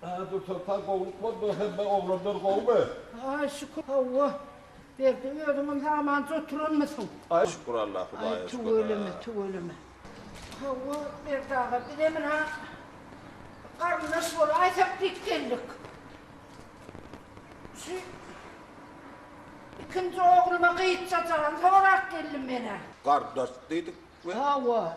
Haa Dursoltan gowluk boldy hemme oglanlar gowmy. Aý şükür hawa Berdi özüňem hamanja oturanmysyň. Aý şükür Allah hudaýa şükür. Aý tüweleme tüweleme. Hawa Berdi aga bizem ina garyndaş bolaýsak diýip geldik. Şu ikinji ogluma gyzjajagam sorap geldim menä. Garyndaş diýdik mi? Hawa.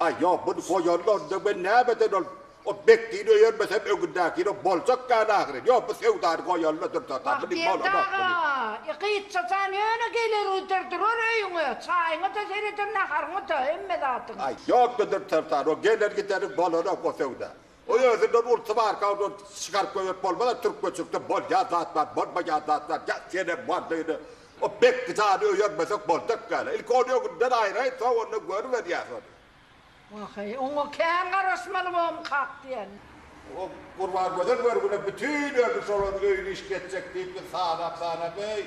Aý, ýok, muny goýanyny onda men nämeden ol o Bekdini öýermesem öňündäkini boljak ýaly ahyry. Ýok, bu söwdany goýanyna durdarda, muny bolanok, muny. Bagtyýar daga, gytça jan ýöne geler uýdur durar öýüňe, çaýyňa-da sereder, naharyňa-da, hemme zadyňa. Aý, ýok-da durdarsan, o geler-gideriň bolanok o söwda. Oý özünde bolsa barka ondan çykaryp goýberip bolmaz-a türk göçürse bolýan zat bar bolmaýan zat bar ýa senem bar beýle o bekgi jany öýermesek boljak dälä ilki ony öňünden aýraýyn soň onda görüberýäs ony. Waheý oňa kän garaşmaly bom kak diýen. O Gurbangözel görgüne bütin ömri şolaryň öýüni iş geçjek diýip biz sanap sanap eý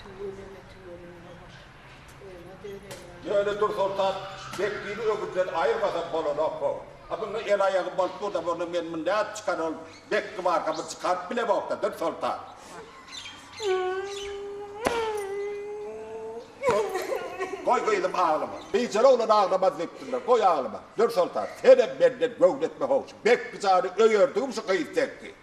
Tüweleme tüweleme baş öňe döneýär. Ýöne Dursoltan Bekdili öküzden aýyrmasa bolanok bu. A munuň el aýagy bolup dur-da bolna men muny nädip çykar ol Bekdi barka bir çykaryp bilemok-da Dursoltan. Goý gyzym aglama. Biçere oglan aglamaz diýipdirler. Goý aglama. Dursoltan senem menden göwni etme-how şu Bekdi jany öýerdigim şu gyz tekdi.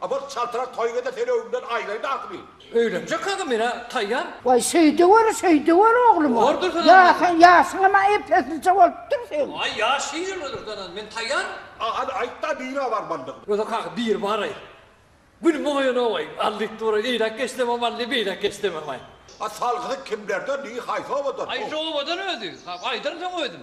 Abat çaltrak toýgede sen öňümden aýraý dahymy. Öýlenjek aga menä taýýar. Waý şeýdeweri şeýdeweri ogluma. Bordur Hyryndan. Ýa sen ýaşyňam-a ep-eslije bolupdyr seň. Aý ýaş şeýlemedir Danan men taýýar. A hany aýtda nirä barmalydygyny. Gözek aga bir baraý. Günüň oýanawaý. Aldyk duraý eýläk geçsemem aldy beýläk geçsememaý. A salgydy kimlerden diý haýsy obadan. Haýsy obadan özi. Hap aýdaryn soň özüm.